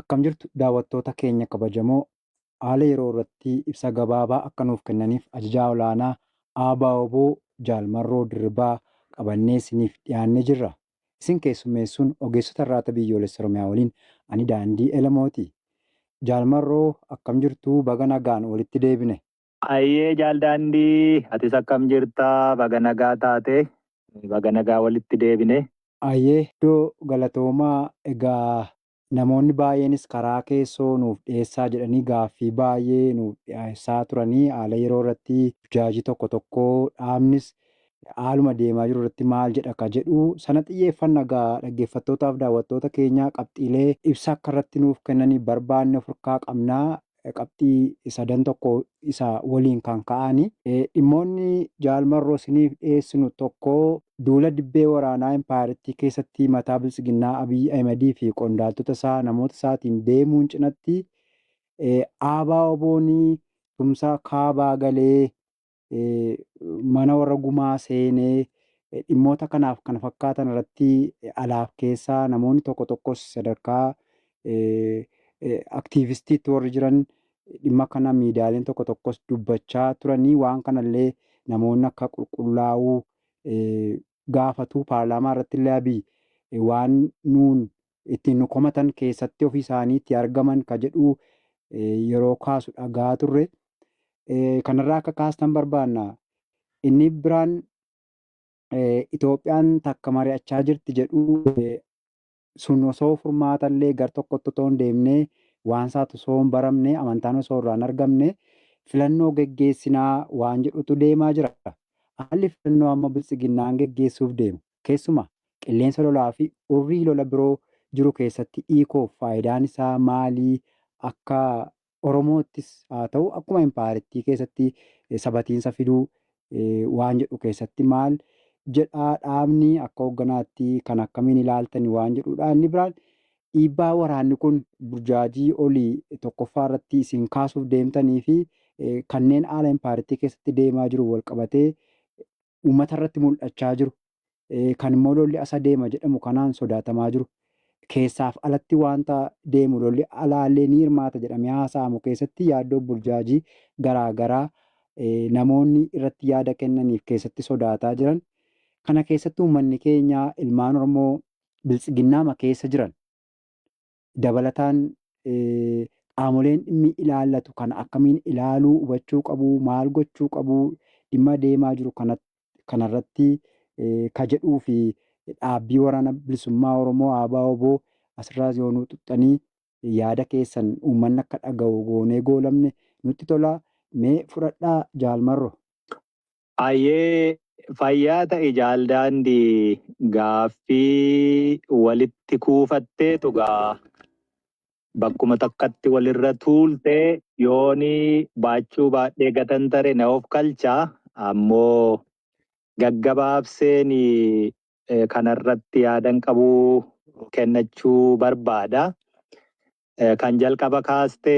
Akkam jirtu daawwattoota keenya kabajamoo haala yeroo irratti ibsa gabaabaa akka nuuf kennaniif ajajaa olaanaa ABO Jaal Marroo Dirribaa qabannee isiniif dhiyaannee jirra. Isin keessummeessuun ogeessota Irraata Biyyoolessa Oromiyaa waliin ani Daandii Elemooti. Jaal Marroo akkam jirtu baga nagaan walitti deebine. Hayyee Jaal Daandii atis akkam jirta baga nagaa taate. Baga nagaa walitti deebine. Hayyee Doo galatoomaa egaa Namoonni baay'eenis karaa keessoo nuuf dhiyeessaa jedhanii gaaffii baay'ee nuuf dhiyeessaa turanii haala yeroo irratti burjaajii tokko tokko dhaabnis haaluma deemaa jiru irratti maal jedha ka jedhu sana xiyyeeffanna egaa dhaggeeffattootaaf daawwattoota keenyaa qabxiilee ibsa akka irratti nuuf kennanii barbaanne of harkaa qabna qabxii sadan tokko isa waliin kan ka'aani. Dhimmoonni Jaal Marroo isiniif dhiyeessinu tokko duula dibbee waraanaa impaayerattii keessatti mataa Biltsiginnaa Abiy Ahimadii fi qondaaltota isaa namoota isaatiin deemuun cinatti ABOn tumsa kaabaa galee mana warra gumaa seenee dhimmoota kanaaf kana fakkaatan irratti alaaf keessaa namoonni tokko tokkos sadarkaa aktiivistiitti warri jiran dhimma kana miidiyaaleen tokko tokkos dubbachaa turanii waan kanallee namoonni akka qulqullaa'uu gaafatu paarlaamaa irratti illee abiy waan nuun ittiin nu komatan keessatti ofii isaaniitti argaman ka jedhu yeroo kaasu dhaga'aa turre. Kanarraa akka kaastan barbaanna. Inni biraan Itoophiyaan takka mari'achaa jirti jedhu sun osoo furmaata illee gar tokkotti otoo hin deemne waan isaatu osoo hin baramne amantaan osoo irraa hin argamne filannoo geggeessinaa waan jedhutu deemaa jira. Haalli filannoo amma biltsiginnaan geggeessuuf deemu Keessumaa, qilleensa lolaa fi urrii lola biroo jiru keessatti Iikoof faayidaan isaa maali? Akka Oromoottis haa ta'u akkuma Impaayarittii keessatti sabatiinsa fiduu waan jedhu keessatti maal jedha dhaabni akka hoogganaatti kan akkamiin ilaaltani waan jedhuudha. Inni biraan dhiibbaa waraanni kun burjaajii olii tokkoffaa irratti isin kaasuuf deemtanii fi kanneen haala Impaayarittii keessatti deemaa jiruun walqabatee uummata irratti mul'achaa jiru, kan immoo lolli asa deema jedhamu kanaan sodaatamaa jiru, keessaaf alatti waanta deemu lolli alaa illee ni hirmaata jedhamee haasa'amu keessatti yaaddoo fi burjaajii garaa garaa namoonni irratti yaada kennanii fi keessatti sodaataa jiran, kana keessatti uummanni keenya ilmaan Oromoo Biltsiginnaama keessa jiran dabalataan qaamoleen dhimmi ilaallatu kana akkamiin ilaaluu, hubachuu qabu, maal gochuu qabu, dhimma deemaa jiru kanarratti ka jedhuu fi dhaabbii waraana bilisummaa Oromoo ABO-wbo asirraas yoo nuu tuqxanii yaada keessan uummanni akka dhagahu goonee goolabne nutti tola. Mee fudhadhaa Jaal Marro. Hayyee fayyaa ta'i Jaal Daandii gaaffii walitti kuufatteetu gaa bakkuma takkatti walirra tuulte yooni baachuu baadhee gatan tare na of kalcha ammoo gaggabaabseen kanarratti yaadan qabuu kennachuu barbaada. Kan jalqaba kaaste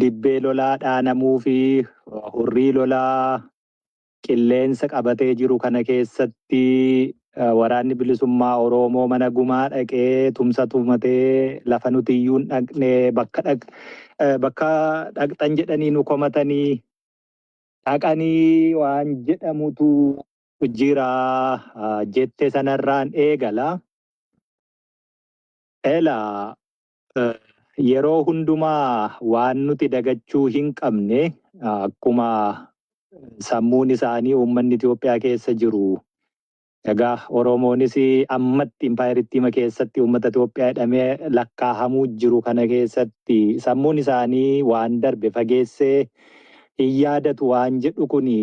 dibbee lolaa dhaanamuu fi hurrii lolaa qilleensa qabatee jiru kana keessatti waraanni bilisummaa Oroomoo mana gumaa dhaqee tumsa tumatee lafa nuti iyyuu hin dhaqne bakka dhaqxan jedhanii nu komatanii dhaqanii waan jedhamutu jira jette sanarraan eegala. Elaa, Yeroo hundumaa waan nuti dagachuu hinqabne akkuma sammuun isaanii uummanni Itoophiyaa keessa jiru egaa Oromoonis ammatti impaayerittiima keessatti uummata Itoophiyaa jedhamee lakkaahamuu jiru kana keessatti sammuun isaanii waan darbe fageessee hin yaadatu waan jedhu kuni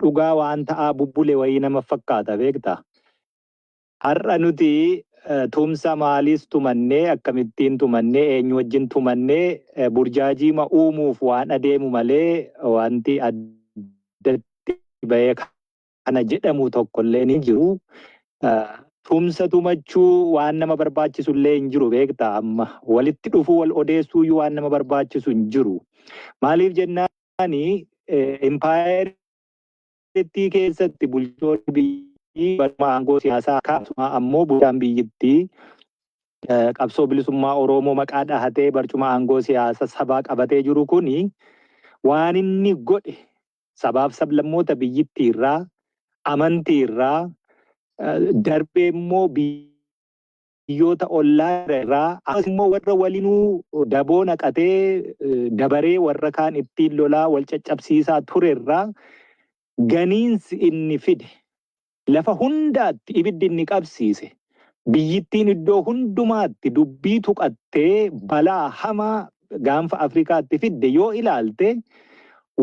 dhugaa waan ta'aa bubbule wayii nama fakkaata beekta. Har'a nuti tumsa maaliis tumannee, akkamittiin tumannee, eenyu wajjin tumannee burjaajiima uumuuf waan adeemu malee wanti addatti bahee kana jedhamu tokkolleen hin jiru. Tumsa tumachuu waan nama barbaachisu illee hin jiru beektaa amma. Walitti dhufuu wal odeessuu iyyuu waan nama barbaachisu hin jiru. Maaliif jennaani impaayerri biyyattii keessatti bulchoonni biyyattii baruma aangoo siyaasaa akkasumaa ammoo bulchaan biyyattii qabsoo bilisummaa Oromoo maqaa dhahatee barcuma aangoo siyaasa sabaa qabatee jiru kun waan inni godhe sabaaf sablammoota biyyittii irraa amantii irraa darbee immoo biyyoota ollaa jira irraa akkasumas immoo warra walinuu daboo naqatee dabaree warra kaan ittiin lolaa wal caccabsiisaa ture irraa ganiinsi inni fide lafa hundaatti ibiddi inni qabsiise biyyittiin iddoo hundumaatti dubbii tuqattee balaa hamaa gaanfa Afrikaatti fidde yoo ilaalte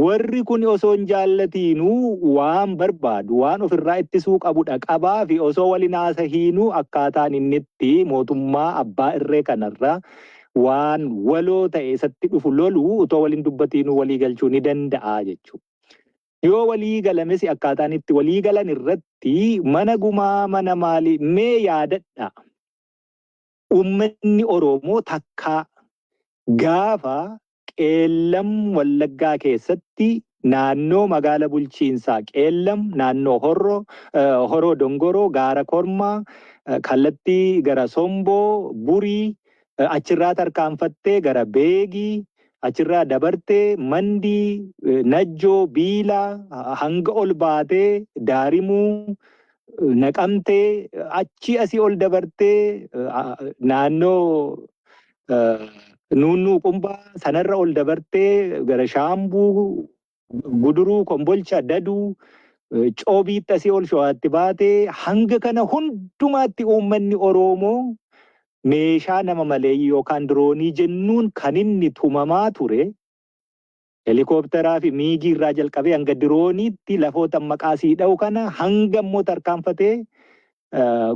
warri kun osoo hin jaallatiinuu waan barbaadu waan ofirraa ittisuu qabudha qabaa fi osoo waliin haasahiinuu akkaataan inni itti mootummaa abbaa irree kanarra waan waloo ta'e isatti dhufu lolu otoo waliin dubbatiinuu walii galchuu ni danda'a jechuudha. Yoo walii galamesi akkaataan itti walii galan irratti mana gumaa mana maalii mee yaadadha. Ummanni Oroomoo takkaa gaafa Qeellam Wallaggaa keessatti naannoo magaala bulchiinsaa Qeellam, naannoo Horro, Horoo Dongoroo, Gaara Kormaa, kallattii gara Somboo, Burii, achirraa tarkaanfattee gara Beegii, achirraa dabartee Mandii, Najjoo, Biilaa, hanga ol baatee Daarimuu, Naqamtee achii asii ol dabartee naannoo nuunnuu qumbaa sanarra ol dabartee gara shaambuu guduruu kombolcha daduu coobiitti asii ol sho'aatti baatee hanga kana hundumaatti uummanni Oroomoo meeshaa nama maleeyyii yookaan diroonii jennuun kan inni tumamaa ture Helikoopteraa fi Miigii irraa jalqabee hanga Dirooniitti lafootan maqaa sii dha'u kana hanga immoo tarkaanfatee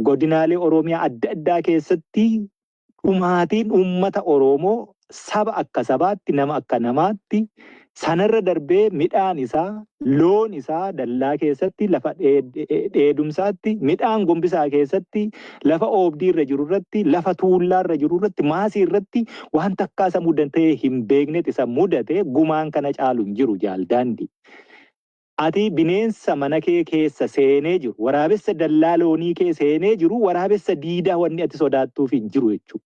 godinaalee Oromiyaa adda addaa keessatti dhumaatiin uummata Oroomoo saba akka sabaatti nama akka namaatti sanarra darbee midhaan isaa loon isaa dallaa keessatti lafa dheedumsaatti midhaan gombisaa keessatti Lafa oobdii irra jiru irratti, lafa tuullaa irra jiru irratti, maasii irratti waan takkaa isa mudatee hin beeknet isa mudate gumaan kana caalu hin jiru jaal daandii. Ati bineensa mana kee keessa seenee jiru, waraabessa dallaa loonii kee seenee jiru, waraabessa diidaa wanni ati sodaattuuf hin jiru jechuudha.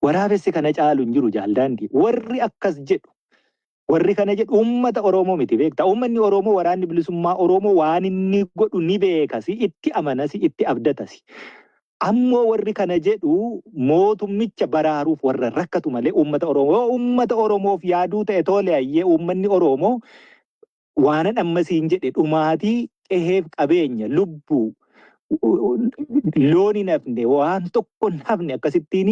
Waraabessi kana caalu hin jiru Jaal Daandii. Warri akkas jedhu, warri kana jedhu uummata Oromoo miti beekta. Uummanni Oromoo waraanni bilisummaa Oromoo waan inni godhu ni beekasi, itti amanasi, itti abdatasi. Ammoo warri kana jedhu mootummicha baraaruuf warra rakkatu malee uummata Oromoo. Yoo uummata Oromoof yaaduu ta'e toole hayyee uummanni Oromoo Waanan amma siin jedhe dhumaatii qeheef qabeenya lubbuu loon hin hafne waan tokko hin hafne akkasittiin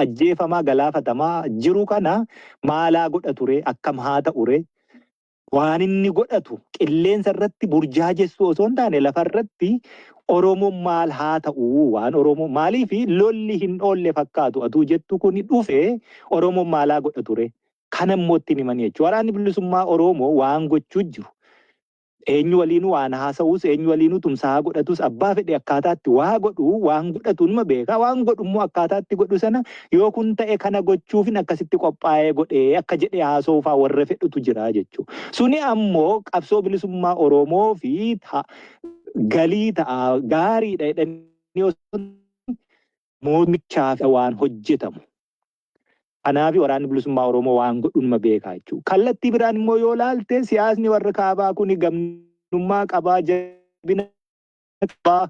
ajjeefamaa galaafatamaa jiru kana maalaa godha ture akkam haa ta'ure waan inni godhatu qilleensa irratti burjaajessuu osoo hin taane lafa irratti Oromoon maal haa ta'u waan Oromoo maaliif lolli hin oolle fakkaatu atuu jettu kun dhufe Oromoon maalaa godha ture Kana immoo ittiin himanii jechuudha. Waraanni bilisummaa Oroomoo waan gochuu jiru eenyu waliinuu waan haasa'uus eenyu waliinuu tumsaa haa godhatuus abbaa fedhe akkaataatti waa godhu waan godhatu numa beeka waan godhu immoo akkaataatti godhu sana yoo kun ta'e kana gochuufin akkasitti qophaa'ee godhee akka jedhee haasa'uufaa warra fedhutu jira jechuu suni ammoo qabsoo bilisummaa Oromoo fi galii ta'a gaariidha jedhanii moodmichaa waan hojjetamu. Kanaafi Waraanni Bilisummaa Oromoo waan godhu numa beeka jechuudha. Kallattii biraan immoo yoo ilaalte siyaasni warra kaabaa kuni gamnummaa qabaa, jabina qabaa,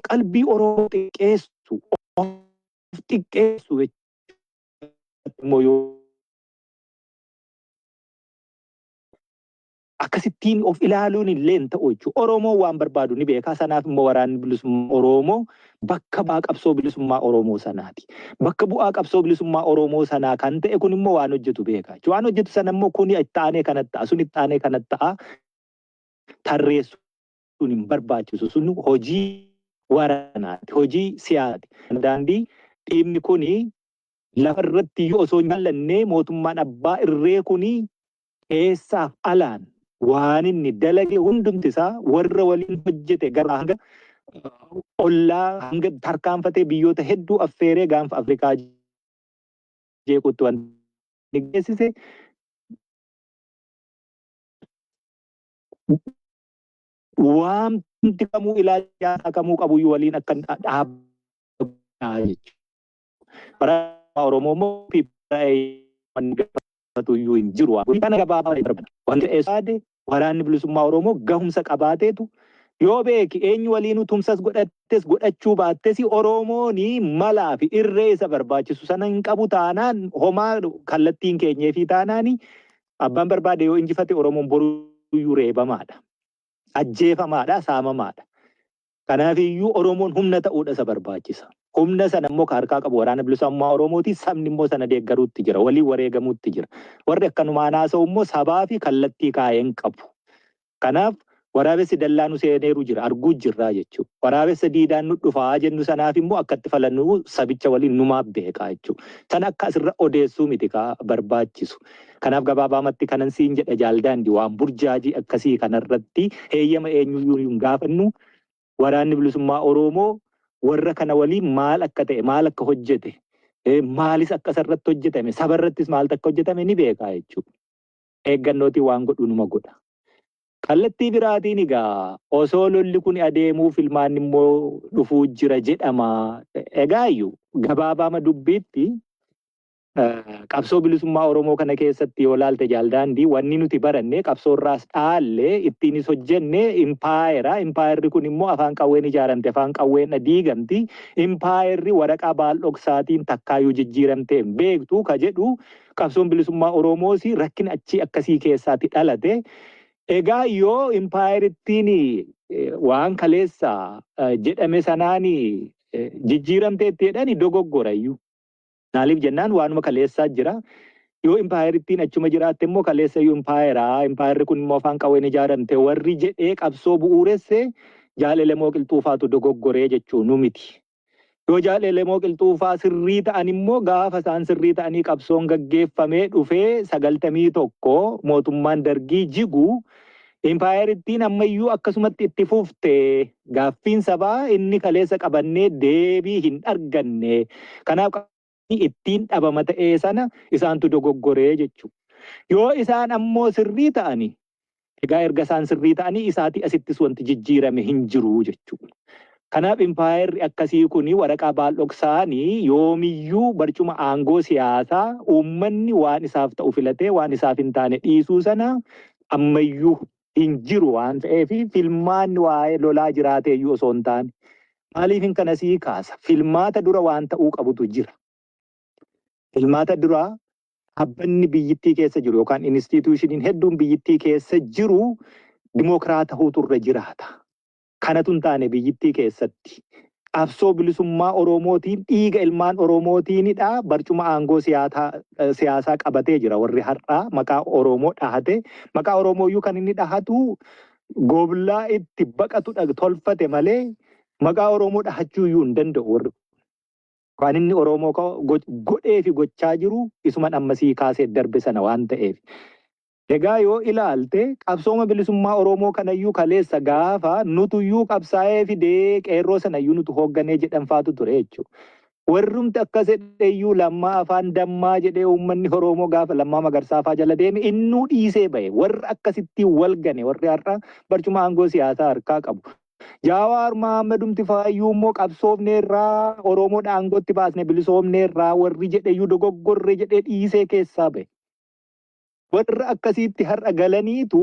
qalbii Oromoo xiqqeessu, of xiqqeessu jechuudha. Akkasittiin of ilaaluun illee hin ta'u jechuudha. Oromoon waan barbaadu ni beeka. Sanaaf immoo waraanni bilisummaa Oromoo bakka bu'aa qabsoo bilisummaa Oromoo sanaati. Bakka bu'aa qabsoo bilisummaa Oromoo sanaa kan ta'e kun immoo waan hojjetu beeka. Waan hojjetu sana immoo kuni itti aanee kana ta'a, sun itti aanee kana ta'a tarreessuun hin barbaachisu. Sun hojii waraanaati, hojii siyaasaati. Daandii dhiibni kuni lafa irratti iyyuu osoo hin jaallanne mootummaan abbaa irree kuni keessaaf alaan waan inni dalage hundumti isaa warra waliin hojjete gara hanga ollaa hanga tarkaanfatee biyyoota hedduu affeeree gaanfa Afrikaa jeequutti waan geessise waamti kamuu ilaalcha siyaasaa kamuu qabuyyuu waliin akka dhaabbataa jechuudha. Barataa Oromoo immoo gaafatu iyyuu hin jiru. Kana gabaabaa darban. Wanti eessaade waraanni bilisummaa Oromoo gahumsa qabaateetu yoo beeki eenyu waliinuu tumsas godhattes godhachuu baattes Oromooni malaa fi irree isa barbaachisu sana hin qabu taanaan homaa kallattiin keenyee fi taanaan abbaan barbaade yoo injifate Oromoon boruyyuu reebamaadha. Ajjeefamaadha, saamamaadha. Kanaaf iyyuu Oromoon humna ta'uudha isa barbaachisa. Humna sana immoo ka harkaa qabu Waraana Bilisummaa Oromooti, sabni immoo sana deeggaruutti jira, waliin wareegamuutti jira. Warri akkanumaan haasa'u immoo sabaa fi kallattii kaa'e hin qabu. Kanaaf waraabessi dallaa nu seeneeru jira, arguu jirraa jechuu. Waraabessa diidaan nu dhufaa jennu sanaaf immoo akka itti falannu sabicha waliin numaaf beekaa jechuu. Sana akka asirra odeessuu miti ka barbaachisu. Kanaaf gabaabaamatti kanan siin jedha Jaal Daandi waan burjaajii akkasii kanarratti heeyyama eenyuyyuu hin gaafannu. Waraanni Bilisummaa Oroomoo warra kana waliin maal akka ta'e, maal akka hojjete, maalis akka isarratti hojjetame, sabarrattis maaltu akka hojjetame ni beeka jechuudha. Eeggannootiin waan godhu numa godha. Kallattii biraatiin egaa osoo lolli kun adeemuu filmaanni immoo dhufuu jira jedhama. Egaayyu gabaabaama dubbiitti Qabsoo bilisummaa Oromoo kana keessatti yoo laalte Jaal Daandii wanni nuti baranne qabsoo irraas dhaalle ittiinis hojjenne impaayera. Impaayerri kun immoo afaan qawween ijaaramte afaan qawweedha diigamti. Impaayerri waraqaa baaldhoksaatiin takkaayyuu jijjiiramtee hin beektu ka jedhu qabsoon bilisummaa Oromoos rakkina achii akkasii keessaatti dhalate. Egaa yoo impaayerittiin waan kaleessa jedhame sanaan jijjiiramteetti jedhani dogoggorayyu. Maaliif jennaan waanuma kaleessaa jira. Yoo impaayerittiin achuma jiraatte immoo kaleessa iyyuu impaayera, impaayerri kun immoo afaan qawween ijaaramte warri jedhee qabsoo bu'uuresse Jaal Elemoo Qilxuufaatu dogoggore jechuu nu miti. Yoo Jaal Elemoo Qilxuufaa sirrii ta'an immoo gaafa isaan sirrii ta'anii qabsoon gaggeeffamee dhufee 91 mootummaan Dargii jigu impaayerittiin amma iyyuu akkasumatti itti fufte. Gaaffiin sabaa inni kaleessa qabannee deebii hin arganne kanaaf qaamni ittiin dhabama ta'ee sana isaantu dogoggoree jechuu. Yoo isaan ammoo sirrii ta'ani egaa erga isaan sirrii ta'anii isaatii asittis wanti jijjiirame hin jiru jechuu. Kanaaf impaayerri akkasii kun waraqaa baaldhoksaani yoomiyyuu barcuma aangoo siyaasaa uummanni waan isaaf ta'u filatee waan isaaf hin taane dhiisuu sana ammayyuu hin jiru waan ta'eef filmaanni waa'ee lolaa jiraateeyyuu osoo hin taane maaliifin kana sii kaasa filmaata dura waan ta'uu qabutu jira. Filmaata duraa dhaabbanni biyyittii keessa jiru yookaan inistiituushiniin hedduun biyyittii keessa jiru dimookiraatahuu turre jiraata. Kanatu hin taane biyyittii keessatti qabsoo bilisummaa Oromootiin dhiiga ilmaan Oromootiinidha barcuma aangoo siyaataa siyaasaa qabatee jira warri har'aa maqaa Oromoo dhahatee maqaa Oromooyyuu kan inni dhahatu gooblaa itti baqatudha tolfate malee maqaa Oromoo dhahachuuyyuu hin danda'u warri kan inni Oromoo godhee fi gochaa jiru isuman ammasii kaasee darbe sana waan ta'eef. Egaa yoo ilaalte qabsooma bilisummaa Oromoo kanayyuu kaleessa gaafa nutuyyuu qabsaa'ee fidee qeerroo sanayyuu nutu hoogganee jedhanfaatu ture jechuu. Warrumti akkas jedheyyuu Lammaa afaan dammaa jedhee uummanni Oroomoo gaafa Lammaa Magarsaa faa jala deeme innuu dhiisee bahe. Warra akkasittiin wal gane warri har'a barcuma aangoo siyaasaa harkaa qabu. Jaawaar Mahammadumti faayyuu immoo qabsoofneerraa Oromoodha aangootti baasne bilisoomneerraa warri jedheyyuu dogoggorre jedhee dhiisee keessaa bahe. Warra akkasiitti har'a galaniitu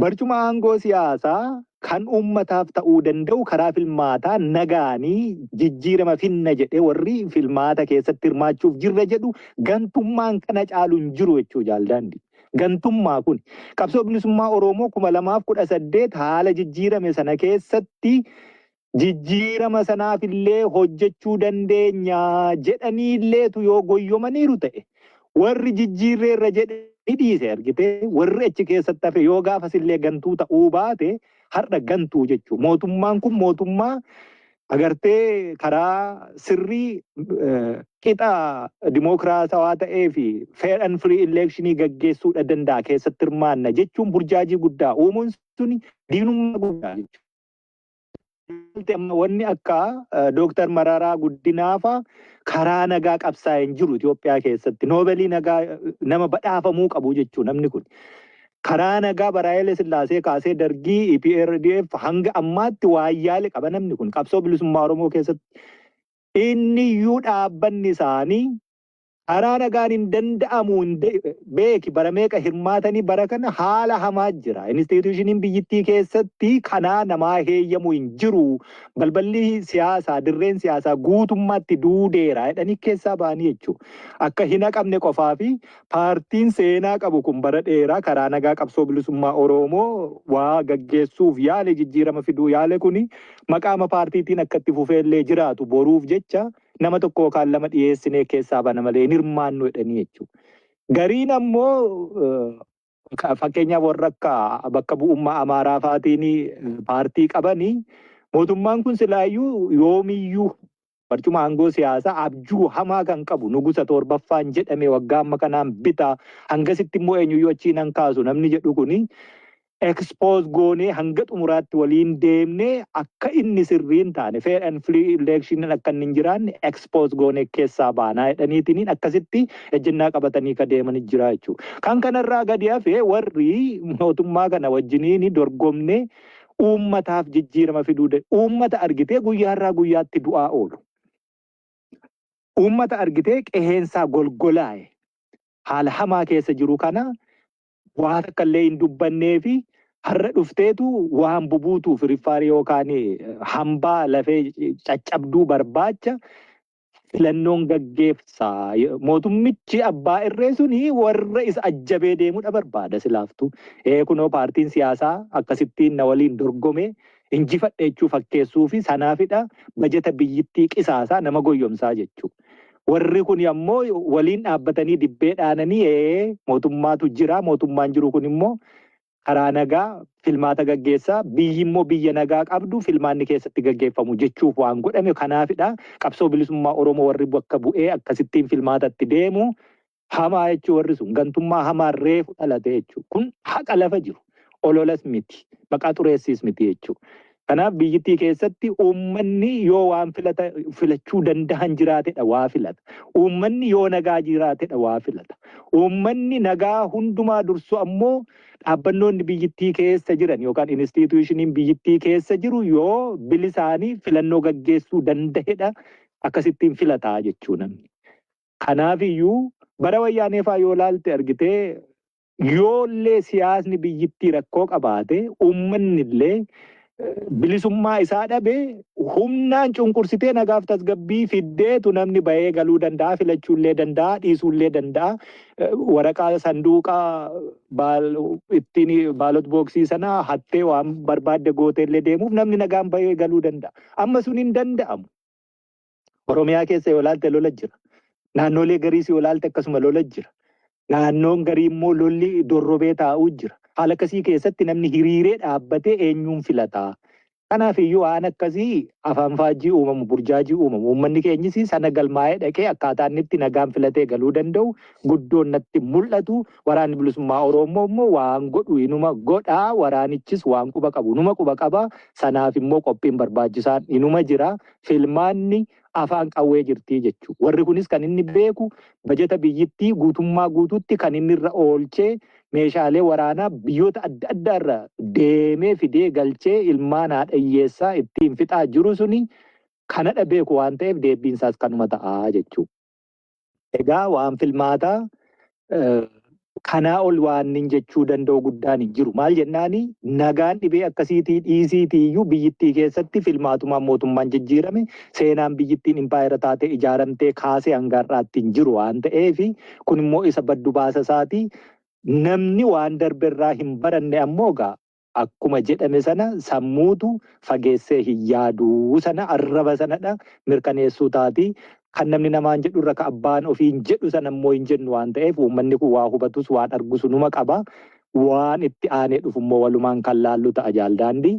barcuma aangoo siyaasaa kan uummataaf ta'uu danda'u karaa filmaataa nagaanii jijjiirama finna jedhee warri filmaata keessatti hirmaachuuf jirra jedhu gantummaan kana caalu hin jiru jechuu jaaldaandi. Gantummaa kun qabsoo bilisummaa Oromoo kuma lamaaf kudha saddeet haala jijjiirame sana keessatti jijjiirama sanaaf illee hojjechuu dandeenya jedhanii illeetu yoo goyyomaniiru ta'e warri jijjiirreerra jedhe ni dhiise argite warri achi keessatti hafe yoo gaafas illee gantuu ta'uu baate har'a gantuu jechuu mootummaan kun mootummaa agartee karaa sirrii eh, qixa dimookiraatawaa ta'ee fi fair and free eleekshinii gaggeessuudha danda'a keessatti hirmaanna jechuun burjaajii guddaa uumuun suni diinummaa guddaa jechuudha. Wanti amma wanni akka Dooktar Mararaa Guddinaafa karaa nagaa qabsaa'e hin jiru Itoophiyaa keessatti. Noobelii nagaa nama badhaafamuu qabu jechuun namni kun. Karaa nagaa Baraayilee Sillaasee kaasee dargii EPRDF hanga ammaatti waayyaale qaba namni kun qabsoo bilisummaa Oromoo keessatti. Inni iyyuu dhaabbanni isaanii Karaa nagaan hin danda'amu hin de- beeki bara meeqa hirmaatanii bara kana haala hamaa jira. Inistiitiyuushiniin biyyittii keessatti kanaa namaa heeyyamu hin jiru. Balballi siyaasaa dirreen siyaasaa guutummaatti duudeera jedhanii keessaa ba'anii jechuudha. Akka hin haqamne qofaa fi paartiin seenaa qabu kun bara dheeraa karaa nagaa qabsoo bilisummaa Oromoo waa gaggeessuuf yaale jijjiirama fiduu yaale kuni maqaama paartiitiin akka itti fufeellee jiraatu boruuf jecha Nama tokko yookaan lama dhiyeessinee keessaa bana malee hin hirmaannu jedhanii jechuudha. Gariin ammoo fakkeenyaaf warra akka bakka bu'ummaa Amaaraa faatiin paartii qabanii mootummaan kun silaayyuu yoomiyyuu barcuma aangoo siyaasaa abjuu hamaa kan qabu nugusa torbaffaan jedhame waggaa amma kanaan bitaa hangasitti immoo eenyuyyuu achiin hankaasu namni jedhu kuni expose goonee hanga xumuraatti waliin deemnee akka inni sirrii hin taane fair and free election akka inni hin jiraanne expose goonee keessaa baanaa jedhaniitiin akkasitti ejjennaa qabatanii ka deeman jira jechuudha. Kan kanarraa gadi hafee warri mootummaa kana wajjiniin dorgomnee uummataaf jijjiirama fiduu da- uummata argitee guyyaarraa guyyaatti du'aa oolu. Uummata argitee qeheensaa golgolaa'e haala hamaa keessa jiru kana waa takka illee hin dubbannee fi har'a dhufteetu waan bubuutuuf riffaari yookaan hambaa lafee caccabduu barbaacha filannoon gaggeessa. Mootummichi abbaa irree suni warra isa ajjabee deemudha barbaada silaaftu. Ee kunoo paartiin siyaasaa akkasittiin na waliin dorgomee injifadhe jechuu fakkeessuu fi sanaafidha bajeta biyyittii qisaasaa nama goyyomsaa jechuudha. Warri kun ammoo waliin dhaabbatanii dibbee dhaananii ee mootummaatu jira mootummaan jiru kun immoo karaa nagaa filmaata gaggeessaa biyyi immoo biyya nagaa qabdu filmaanni keessatti gaggeeffamu jechuuf waan godhame kanaafidha qabsoo bilisummaa Oromoo warri bakka bu'ee akkasittiin filmaatatti deemu Hamaa jechuu warri sun gantummaa hamaa reefu dhalate jechuu. Kun haqa lafa jiru. Ololas miti. Maqaa xureessiis miti jechuu. Kanaaf biyyittii keessatti uummanni yoo waan filata filachuu dandahan jiraatedha waa filata. Uummanni yoo nagaa jiraatedha waa filata. Uummanni nagaa hundumaa dursu ammoo dhaabbannoonni biyyittii keessa jiran yookaan inistiitiyuushiniin biyyittii keessa jiru yoo bilisaanii filannoo gaggeessuu dandahedha akkasittiin filataa jechuu namni. Kanaafiyyuu bara Wayyaanee faa yoo laalte argite yoollee siyaasni biyyittii rakkoo qabaate ummannillee bilisummaa isaa dhabe humnaan cunqursitee nagaaf tasgabbii fiddeetu namni bahee galuu danda'a filachuullee danda'a dhiisuullee danda'a waraqaa sanduuqa baal ittiin baalot booksii sana hattee waan barbaadde gooteellee deemuuf namni nagaan bahee galuu danda'a amma sun hin danda'amu. Oromiyaa keessa yoo ilaalte lola jira. Naannoolee gariis yoo ilaalte akkasuma lola jira. Naannoon garii immoo lolli dorrobee taa'uu jira. Haala akkasii keessatti namni hiriiree dhaabbatee eenyuun filataa? Kanaaf iyyuu waan akkasii afaan faajjii uumamu, burjaajii uumamu. Uummanni keenyis sana galmaa'ee dhaqee akkaataa inni itti nagaan filatee galuu danda'u guddoon natti mul'atu. Waraanni Bilisummaa Oroommoo immoo waan godhu inuma godha, waraanichis waan quba qabu inuma quba qaba, sanaaf immoo qophiin barbaachisaan inuma jira, filmaanni afaan qawwee jirti jechuudha. Warri kunis kan inni beeku bajata biyyittii guutummaa guutuutti kan inni irra oolchee meeshaalee waraanaa biyyoota adda addaa irra deemee fidee galchee ilmaan haadha hiyyeessaa ittiin fixaa jiru suni kanadha beeku waan ta'eef deebbiin isaas kanuma ta'a jechuudha. Egaa waan filmaataa kanaa ol waannin jechuu danda'u guddaan hin jiru. Maal jennaani nagaan dhibee akkasiitii dhiisiitii iyyuu biyyittii keessatti filmaatumaan mootummaan jijjiirame seenaan biyyittiin impaayera taatee ijaaramtee kaasee hanga har'aatti hin jiru waan ta'eef kun immoo isa baddu baasa isaatii namni waan darbe irraa hin baranne ammoo egaa akkuma jedhame sana sammuutu fageessee hin yaadu sana arraba sanadha mirkaneessuu taati. Kan namni namaan jedhu irra ka abbaan ofiin jedhu sana immoo hin jennu waan ta'eef uummanni kun waa hubatus waan argu sunuma qaba. Waan itti aanee dhufu immoo walumaan kan laallu ta'a Jaal Daandii.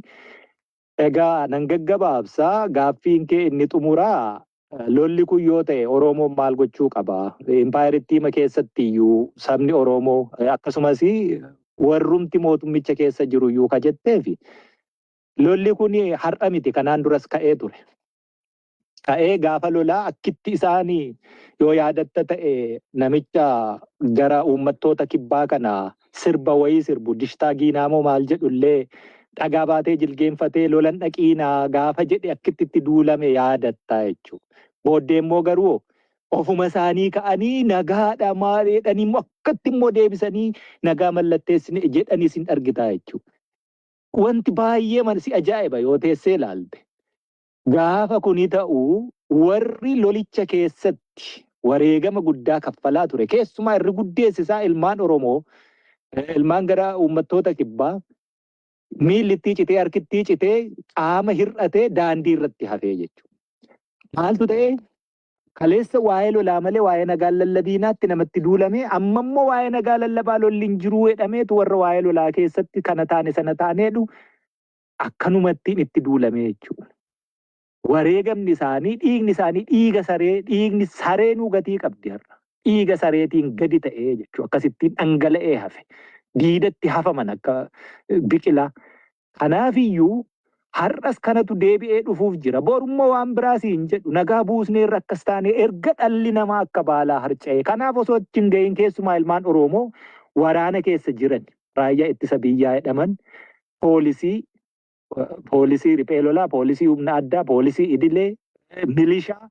Egaa nan gaggabaabsa, gaaffiin kee inni xumuraa lolli kun yoo ta'e Oroomoon maal gochuu qaba? Impaayerittiima keessatti iyyuu sabni Oroomoo akkasumas warrumti mootummicha keessa jiru iyyuu ka jetteefi lolli kun har'a miti kanaan duras ka'ee ture. ka'ee gaafa lolaa akkitti isaan yoo yaadatta ta'e namicha gara uummattoota kibbaa kana sirba wayii sirbu dishtaa giinaamoo maal jedhullee dhagaa baatee jilgeenfatee lolan dhaqiinaa gaafa jedhe akkitti itti duulame yaadatta jechuudha. Booddee immoo garuu ofuma isaanii ka'anii nagaadha maal jedhanii immoo akkatti immoo deebisanii nagaa mallatteessine jedhanii isin argitaa jechuudha. Wanti baay'ee man si ajaa'iba yoo teessee ilaalte. Gaafa kuni ta'u warri lolicha keessatti wareegama guddaa kaffalaa ture keessumaa irri guddeessi isaa ilmaan Oromoo, ilmaan gara uummattoota kibbaa miilli ittii citee harki ittii citee qaama hir'atee daandii irratti hafee jechuudha. Maaltu ta'e? Kaleessa waa'ee lolaa malee waa'ee nagaa hin lallabiinaatti namatti duulamee amma immoo waa'ee nagaa lallabaa lolli hin jiruu jedhameetu warra waa'ee lolaa keessatti kana taane sana taane jedhu Akkanumattiin itti duulame jechuudha. Wareegamni isaanii, dhiigni isaanii dhiiga saree, dhiigni sareenuu gatii qabdi har'a. Dhiiga sareetiin gadi ta'ee jechuudha. Akkasittiin dhangala'ee hafe. Diidatti hafaman akka biqilaa. Kanaafiyyuu har'as kanatu deebi'ee dhufuuf jira. Borummoo waan biraa siin jedhu nagaa buusneerra akkas taanee erga dhalli namaa akka baalaa harca'ee. Kanaaf osoo achi hin ga'iin keessumaa ilmaan Oroomoo waraana keessa jiran raayyaa ittisa biyyaa jedhaman poolisii, poolisii riphee lolaa, poolisii humna addaa, poolisii idilee, milishaa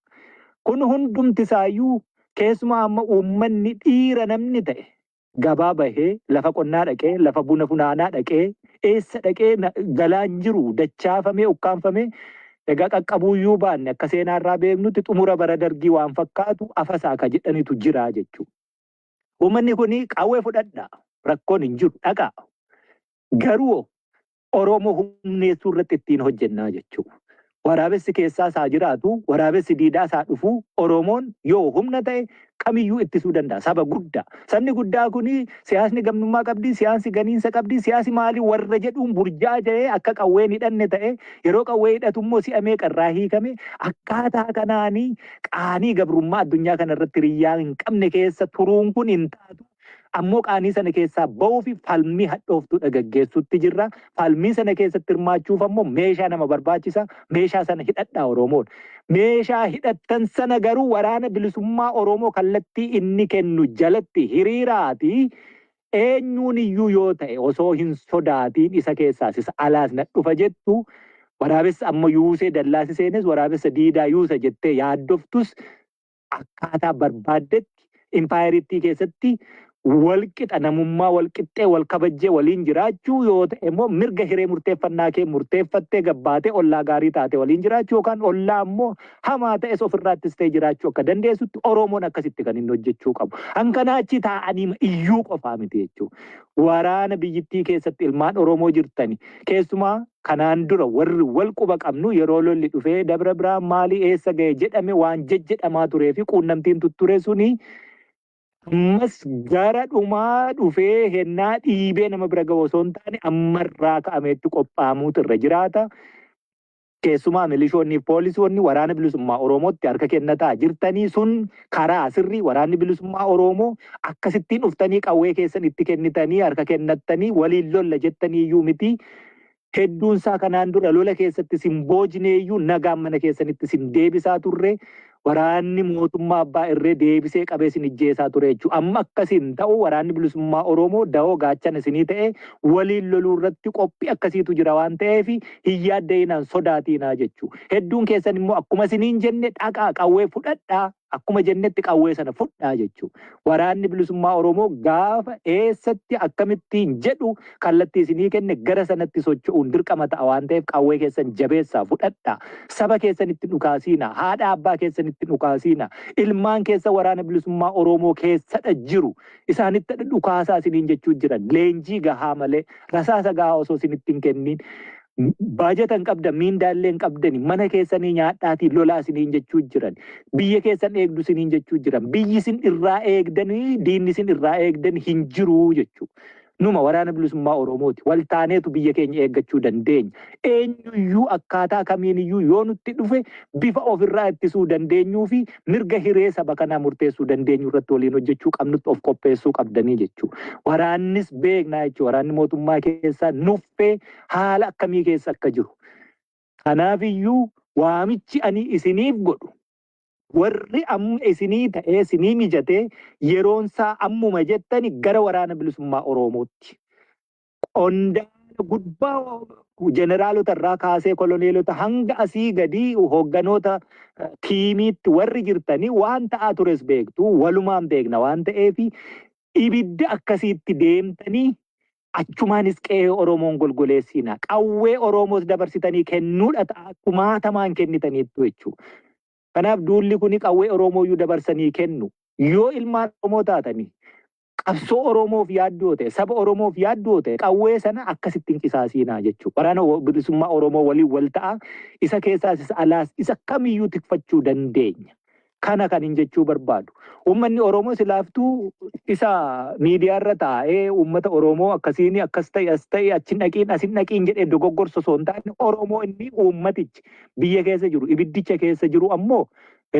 kun hundumti isaayyuu keessumaa amma uummanni dhiira namni ta'e gabaa bahee lafa qonnaa dhaqee lafa buna funaanaa dhaqee eessa dhaqee na- galaan jiru dachaafamee ukkaanfamee egaa qaqqabuuyyuu baanne akka seenaa irraa beeknutti xumura bara dargii waan fakkaatu afasaa ka jedhanitu jira jechuudha. Uummanni kun qawwee fudhadha rakkoon hin jiru dhaqaa Garuu hoo Oromoo humneessuu irratti ittiin hojjennaa jechuu. Waraabessi keessaas haa jiraatu, waraabessi diidaas haa dhufu, Oromoon yoo humna ta'e kamiyyuu ittisuu danda'a. Saba guddaa. Sabni guddaa kun siyaasni gamnummaa qabdi, siyaasni ganiinsa qabdi, siyaasni maali warra jedhuun burjaaja'ee akka qawwee hin hidhanne ta'e, yeroo qawwee hidhatu immoo si'a meeqa irraa hiikame, akkaataa kanaan qaanii gabrummaa addunyaa kana irratti hiriyyaa hin qabne keessa turuun kun hin taatu. Ammoo qaanii sana keessaa ba'uufi falmii hadhooftuudha gaggeessuutti jirra. Falmii sana keessatti hirmaachuuf ammoo meeshaa nama barbaachisa. Meeshaa sana hidhadhaa Oromoon. Meeshaa hidhattan sana garuu waraana bilisummaa Oromoo kallattii inni kennu jalatti hiriiraatii eenyuun iyyuu yoo ta'e osoo hin sodaatiin isa keessaas isa alaas na dhufa jettu waraabessa amma yuusee dallaasi seenes waraabessa diidaa yuusa jettee yaaddoftus akkaataa barbaaddetti impaayerittii keessatti walqixa namummaa walqixxee wal kabajjee waliin jiraachuu yoo ta'e immoo mirga hiree murteeffannaa kee murteeffattee gabbaatee ollaa gaarii taate waliin jiraachuu yookaan ollaa immoo hamaa ta'es ofirraattis ta'e jiraachuu akka dandeessutti Oromoon akkasitti kan inni hojjechuu qabu. Hankanaa achi taa'anii iyyuu qofaa miti jechuudha. Waraana biyyittii keessatti ilmaan Oromoo jirtani keessumaa kanaan dura warri wal quba qabnu yeroo lolli dhufee Dabra Birhaan maalii eessa gahe jedhame waan jejjedhamaa turee fi quunnamtiin tutture suni ammas gara dhumaa dhufee hennaa dhiibee nama bira gahu osoo hin taane ammarraa ka'ameetti qophaa'amuutu irra jiraata. Keessumaa milishoonni fi poolisoonni waraana bilisummaa Oromootti harka kennataa jirtanii sun karaa sirrii waraanni bilisummaa Oromoo akkasittiin dhuftanii qawwee keessan itti kennitanii harka kennattanii waliin lolla jettanii iyyuu miti. Hedduun isaa kanaan dura lola keessatti isin boojnee iyyuu nagaan mana keessanitti isin deebisaa turre, waraanni mootummaa abbaa irree deebisee qabee isin ijjeesaa ture jechuudha. Amma akkasii hin ta'u, waraanni bilisummaa Oromoo dawoo gaachana isinii ta'ee waliin loluu irratti qophii akkasiitu jira waan ta'eef hin yaadda'inaa, hin sodaatiinaa jechuudha. Hedduun keessan immoo akkuma isiniin jenne dhaqaa qawwee fudhadhaa, Akkuma jennetti qawwee sana fudhaa jechuu. Waraanni bilisummaa Oromoo gaafa eessatti akkamittiin jedhu kallattii isinii kenne gara sanatti socho'uun dirqama ta'a waan ta'eef qawwee keessan jabeessaa fudhadhaa. Saba keessanitti dhukaasiina, haadha abbaa keessanitti dhukaasiina, ilmaan keessa waraana bilisummaa Oromoo keessadha jiru. Isaanittadha dhukaasaa isiniin jechuu jiran. Leenjii gahaa malee, rasaasa gahaa osoo isinitti hin kenniin Baajata hin qabdan, miindaa illee hin qabdani. Mana keessanii nyaadhaatii lolaa isiniin jechuu jiran. Biyya keessan eegdu isiniin jechuu jiran. Biyyi isin irraa eegdanii diinni isin irraa eegdan hin jiru jechuu. Numa waraana bilisummaa Oromooti. Wal taaneetu biyya keenya eeggachuu dandeenya. Eenyuyyuu akkaataa kamiiniyyuu yoo nutti dhufe bifa ofirraa ittisuu dandeenyuu fi mirga hiree saba kanaa murteessuu dandeenyu irratti waliin hojjechuu qabnutti of qopheessuu qabdanii jechuu. Waraannis beeknaa jechuu. Waraanni mootummaa keessaa nuffee haala akkamii keessa akka jiru. Kanaaf iyyuu waamichi ani isiniif godhu warri amma isinii ta'ee isinii mijatee yeroonsaa ammuma jettani gara waraana bilisummaa Oroomootti qondaala gubbaa jeneraalota irraa kaasee koloneelota hanga asii gadii hoogganoota tiimiitti warri jirtanii waan ta'aa tures beektu walumaan beekna waan ta'eef ibidda akkasiitti deemtanii Achumaanis qe'ee Oromoon golgoleessiina. Qawwee Oromoos dabarsitanii kennuudha ta'a kumaatamaan kennitaniittu jechuu. Kanaaf duulli kuni qawwee Oromooyyuu dabarsanii kennu. Yoo ilmaan Oromoo taatani qabsoo Oromoof yaaddu yoo ta'e, saba Oromoof yaaddu yoo ta'e qawwee sana akkasitti hin qisaasiinaa jechuu. Waraana Bilisummaa Oromoo waliin wal ta'aa isa keessaas isa alaas isa kamiyyuu tikfachuu dandeenya. Kana kanin jechuu barbaadu. Uummanni Oromoo silaaftuu isa miidiyaarra taa'ee uummata Oromoo akkasiin akkas ta'e as ta'e achi hin dhaqiin as hin dhaqiin jedhee dogoggorsu osoo hin taane Oromoo inni uummatichi biyya keessa jiru ibiddicha keessa jiru ammoo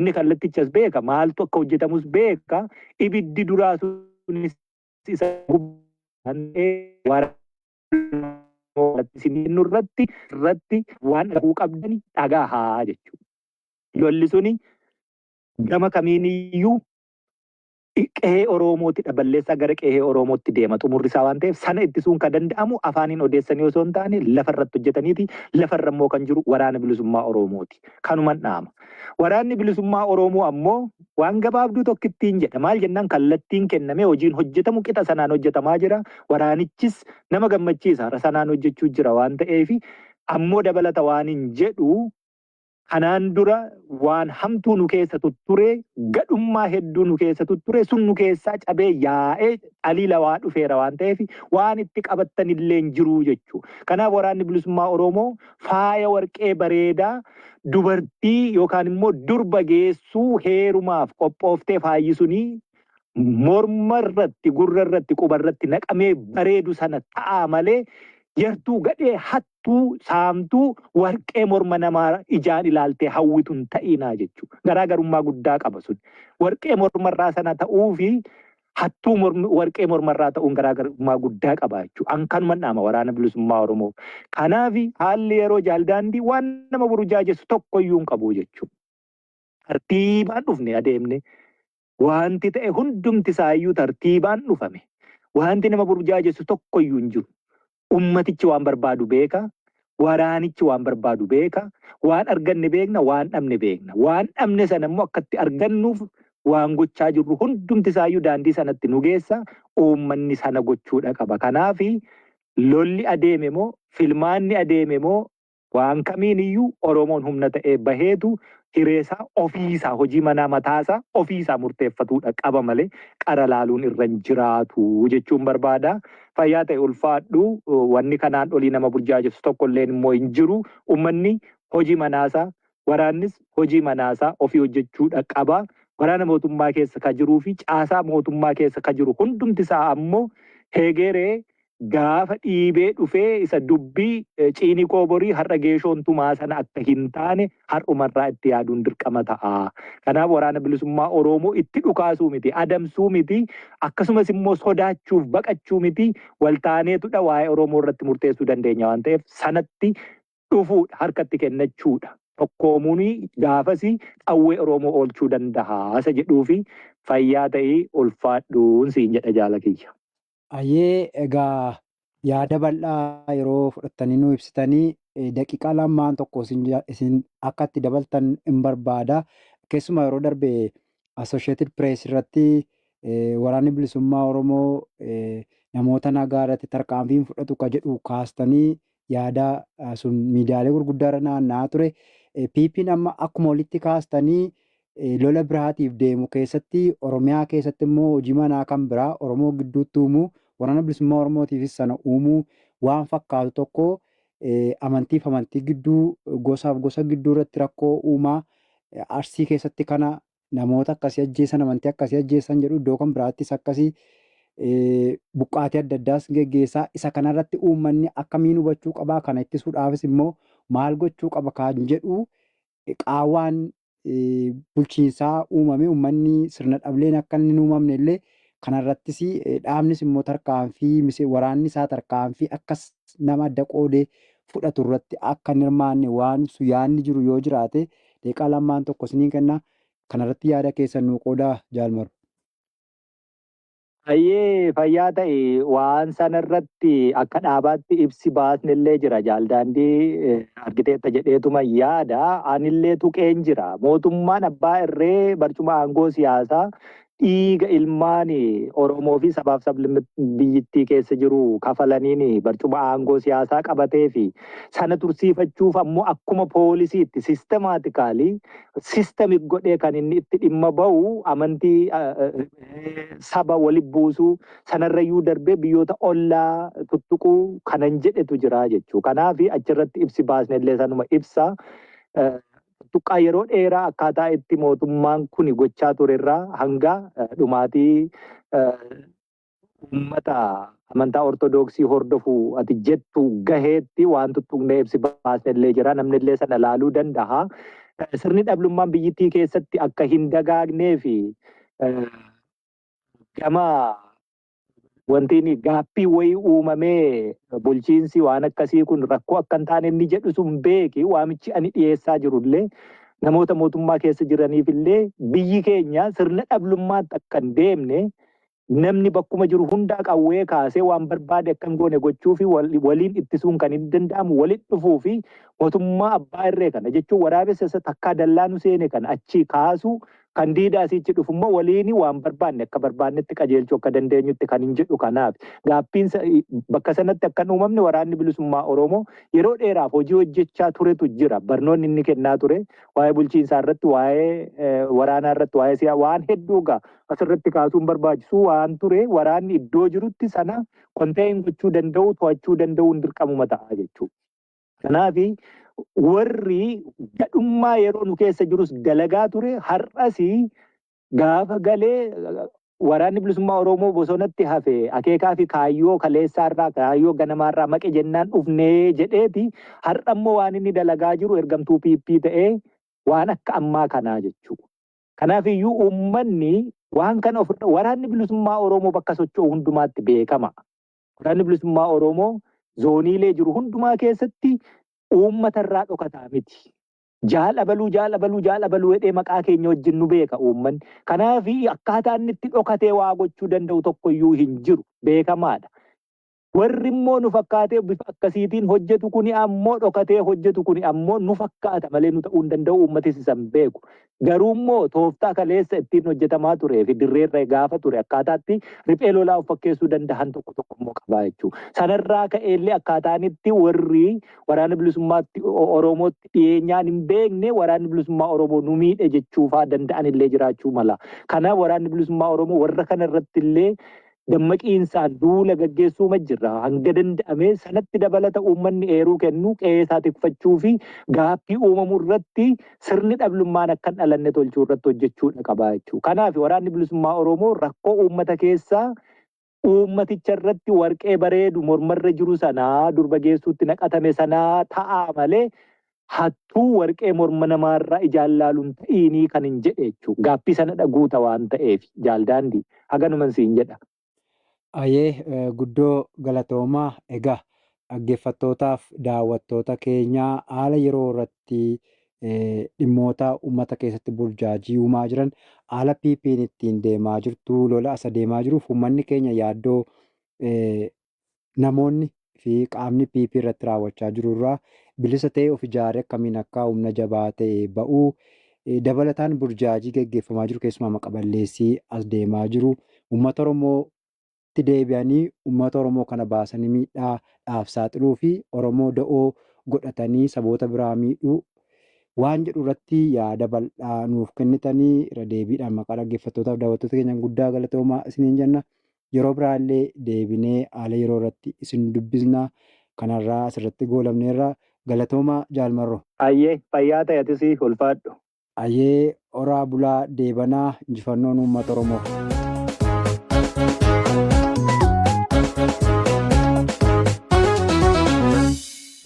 inni kallattichas beeka maaltu akka hojjetamus beeka ibiddi duraa sunis isa gubbaatti irratti irratti waan dhaguu qabdani dhagahaa jechuudha. Lolli suni gama kamiiniyyuu qehee Oromootidha. Balleessaa gara qehee Oromootti deema xumurri isaa waan ta'eef sana ittisuun kan danda'amu afaaniin odeessanii osoo hin taane lafa irratti hojjetaniiti. Lafa irra immoo kan jiru waraana bilisummaa Oromooti. Kanuman dhaama. Waraanni bilisummaa Oromoo ammoo waan gabaabduu tokkittiin jedha. Maal jennaan kallattiin kennamee hojiin hojjetamu qixa sanaan hojjetamaa jira. Waraanichis nama gammachiisa. Sanaan hojjechuu jira waan ta'eef ammoo dabalata waanin jedhu Kanaan dura waan hamtuu nu keessa tutturee, gadhummaa hedduu nu keessa tutturee, sun nu keessaa cabee yaa'ee alii lawaa dhufeera waan ta'eef waan itti qabattan illee hin jiru jechuu. Kanaaf Waraanni Bilisummaa Oromoo faaya warqee bareedaa dubartii yookaan immoo durba geessuu heerumaaf qophooftee faayyi suni morma irratti, gurra irratti, quba irratti naqamee bareedu sana ta'aa malee yartuu gadhee hattuu hattuu, saamtuu, warqee morma namaa ijaan ilaaltee hawwitu hin ta'iinaa jechuudha. Garaa garummaa guddaa qaba sun. Warqee mormarraa sana ta'uu fi hattuu mormi- warqee mormarraa ta'uun garaa garummaa guddaa qaba jechuudha. An kanuman dhaama waraana bilisummaa Oromoo. Kanaaf haalli yeroo jaaldaandii waan nama burjaajessu tokko iyyuu hin qabu jechuudha. Tartiibaan dhufne adeemne Wanti ta'e hundumti isaa iyyuu tartiibaan dhufame. Wanti nama burjaajessu tokko iyyuu hin jiru. Ummatichi waan barbaadu beeka, waraanichi waan barbaadu beeka, waan arganne beekna, waan dhabne beekna. Waan dhabne sana immoo akka itti argannuuf waan gochaa jirru hundumti isaa iyyuu daandii sanatti nu geessa, uummanni sana gochuudha qaba. Kanaafi lolli adeeme moo, filmaanni adeeme moo, Waan kamiin iyyuu Oromoon humna ta'ee baheetu hireesaa ofiisaa hojii manaa mataasaa ofiisaa murteeffatuudha qaba malee qara laaluun irra hin jiraatu jechuun barbaada. Fayyaa ta'i ulfaadhu. Wanni kanaan olii nama burjaajessu tokkolleen immoo hin jiru. Ummanni hojii manaasaa waraannis hojii manaasaa ofii hojjechuudha qaba. Waraana mootummaa keessa ka jiruufi caasaa mootummaa keessa ka jiru hundumtisaa ammoo heegeree gaafa dhiibee dhufee isa dubbi ciinikoo borii har'a geeshoon tumaa sana akka hin taane har'umarraa itti yaaduun dirqama ta'a. Kanaaf waraana bilisummaa Oroomoo itti dhukaasuu miti, adamsuu miti, akkasumas immoo sodaachuuf baqachuu miti waltaaneetudha waa'ee Oromoo irratti murteessuu dandeenya waan ta'eef sanatti dhufuudha, harkatti kennachuudha. Tokkoomuun gaafasi qawwee Oroomoo oolchuu danda'a isa jedhuufi fayyaa ta'ii ulfaadhuun siin jedha jaala kiyya. Hayyee egaa yaada bal'aa yeroo fudhattanii nuu ibsitanii daqiiqaa lamaan tokko isin akka itti dabaltan hin barbaada. Keessumaa yeroo darbe Associated Press irratti waraanni bilisummaa Oromoo namoota nagaa irratti tarkaanfii hin fudhatu ka jedhu kaastanii yaada sun miidiyaalee gurguddaarra naanna'aa ture. PPn amma akkuma olitti kaastanii lola biraatiif deemu keessatti Oromiyaa keessatti immoo hojii manaa kan biraa Oromoo gidduutti uumuu waraana bilisummaa Oromootiifis sana uumuu waan fakkaatu tokko amantiif amantii gidduu gosaaf gosa gidduu irratti rakkoo uumaa Arsii keessatti kana namoota akkasii ajjeesan, amantii akkasii ajjeessan jedhu iddoo kan biraattis akkasii buqqaatii adda addaas geggeessaa isa kanarratti uummanni akkamiin hubachuu qabaa kana ittisuudhaafis immoo maal gochuu qaba kan jedhu qaawwaan bulchiinsaa uumame uummanni sirna dhableen akka inni hin uumamne illee kanarrattis dhaabnis immoo tarkaanfii waraanni isaa tarkaanfii akkas nama adda qoodee fudhatu irratti akka hin hirmaanne waan ibsu yaanni jiru yoo jiraate Daqiiqaa lamaan tokko isiniin kenna. Kanarratti yaada keessan nuu qoodaa Jaal Maruu. Hayyee fayyaa ta'i. Waan sanarratti akka dhaabaatti ibsi baasnellee jira. Jaal Daandii argiteetta jedheetuman yaada. Anillee tuqeen jira. Mootummaan abbaa irree barcuma aangoo siyaasaa dhiiga ilmaan Oromoo fi sabaaf sablammoota biyyittii keessa jiru kafalaniin barcuma aangoo siyaasaa qabatee fi sana tursiifachuuf ammoo akkuma poolisiitti sistemaatikaalii sistemik godhee kan inni itti dhimma ba'u amantii saba wali buusuu sanarrayyuu darbee biyyoota ollaa tuttuquu kanan jedhetu jira jechuu. Kanaaf achirratti ibsi baasnellee sanuma ibsa. tuttuqqaa yeroo dheeraa akkaataa itti mootummaan kuni gochaa ture irraa hanga dhumaatii uummata amantaa Ortodooksii hordofu ati jettu gaheetti waan tuttuqnee ibsi baasne illee jira. Namni illee sana ilaaluu danda'a. Sirni dhablummaan biyyittii keessatti akka hin dagaagnee fi gama wanti inni gaaffii wayii uumamee bulchiinsi waan akkasii kun rakkoo akka hin taane inni jedhu sun beeki waamichi ani dhiyeessaa jirullee namoota mootummaa keessa jiraniif illee biyyi keenya sirna dhablummaatti akka hin deemne namni bakkuma jiru hundaa qawwee kaasee waan barbaade akka hin goone gochuu fi waliin ittisuun kan hin danda'amu walitti dhufuu fi mootummaa abbaa irree kana jechuun waraabessa isa takkaa dallaanu seene kana achii kaasuu Kan diida asiichi dhufu immoo waliini waan barbaanne akka barbaannetti qajeelchuu akka dandeenyutti kanin jedhu kanaafi. Gaaffiin sa- i- bakka sanatti akka hin uumamne waraanni bilisummaa Oromoo yeroo dheeraaf hojii hojjechaa turetu jira. Barnoonni inni kennaa ture waa'ee bulchiinsaa irratti, waa'ee eh, waraanaa irratti, waa'ee siyaa waan hedduu gaa asirratti kaasuun barbaachisu waan ture waraanni iddoo jirutti sana konteeyin gochuu danda'u, to'achuu danda'uun dirqamuma ta'a jechuudha. Kanaaf warri gadhummaa yeroo nu keessa jirus dalagaa ture har'as gaafa galee waraanni bilisummaa Oromoo bosonatti hafe akeekaa fi kaayyoo kaleessaarraa kaayyoo ganamaarraa maqe jennaan dhufnee jedheeti har'a immoo waan inni dalagaa jiru ergamtuu PP ta'ee waan akka ammaa kanaa jechuudha. Kanaaf iyyuu uummanni waan kana of waraanni bilisummaa Oromoo bakka socho'u hundumaatti beekama. Waraanni Bilisummaa Oromoo zooniilee jiru hundumaa keessatti uummata irraa dhokataa miti. Jaal abaluu jaal abaluu jaal abaluu jedhee maqaa keenya wajjin nu beeka uummanni. Kanaaf akkaataa inni itti dhokatee waa gochuu danda'u tokkoyyuu hin jiru. Beekamaadha. Warri immoo nu fakkaatee bifa akkasiitiin hojjetu kuni ammoo dhokatee hojjetu kuni ammoo nu fakkaata malee nu ta'uu hin danda'u uummatis isa hin beeku. Garuu immoo tooftaa kaleessa ittiin hojjetamaa turee fi dirreerra gaafa ture akkaataatti riphee lolaa of fakkeessuu danda'an tokko tokko immoo qabaa jechuudha. Sanarraa ka'eellee akkaataanitti warri waraana bilisummaatti Oromootti dhiyeenyaan hin beekne waraanni bilisummaa Oromoo nu miidhe jechuufaa danda'an illee jiraachuu mala. Kana waraanni bilisummaa Oromoo warra kana irratti illee dammaqiinsaan duula gaggeessuuma jirra. Hanga danda'ame sanatti dabalata uummanni eeruu kennu qe'ee isaa tikfachuu fi gaaffii uumamu irratti sirni dhablummaan akka hin dhalanne tolchuu irratti hojjechuudha qaba jechuudha. Kanaaf waraanni bilisummaa Oromoo rakkoo uummata keessaa uummaticha irratti warqee bareedu mormarra jiru sanaa durba geessuutti naqatame sanaa ta'aa malee Hattuu warqee morma namaarra ijaan laalun ta'iinii kanin jedhe jechu gaaffii sanadha guuta waan ta'eefi jaal daandii haganuman siin jedha. Ayee guddoo galatoomaa egaa dhaggeeffattootaaf daawwattoota keenya haala yeroo irratti dhimmoota ummata keessatti burjaajii uumaa jiran haala PPn ittiin deemaa jirtu lola as adeemaa jiruuf ummanni keenya yaaddoo namoonni fi qaamni PP irratti raawwachaa jiru irraa bilisa ta'ee of ijaaree akkamiin akka humna jabaa ta'e ba'u, dabalataan burjaajii gaggeeffamaa jiru keessumaa maqa balleessii as deemaa jiru uummata Oromootti deebi'anii uummata Oromoo kana baasanii miidhaa dhaaf saaxiluu fi Oromoo da'oo godhatanii saboota biraa miidhuu waan jedhu irratti yaada bal'aa nuuf kennitanii irra deebiidhaan maqaa dhaggeeffattootaaf daawwattoota keenyaan guddaa galatoomaa isiniin jenna. Yeroo biraallee deebinee haala yeroo irratti isin dubbisna. Kan har'aa asirratti goolabneerra. Galatoomaa Jaal Marroo. Hayyee fayyaa ta'i atis ulfaadhu. Hayyee horaa bulaa deebanaa. Injifannoon Uummata Oromoof.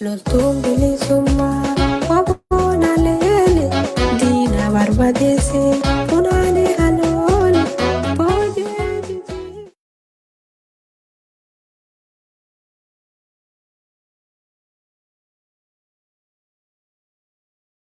Loltuun bilisummaa waboon haleele diina barbadeesse funaanee kan oole boojee jijii.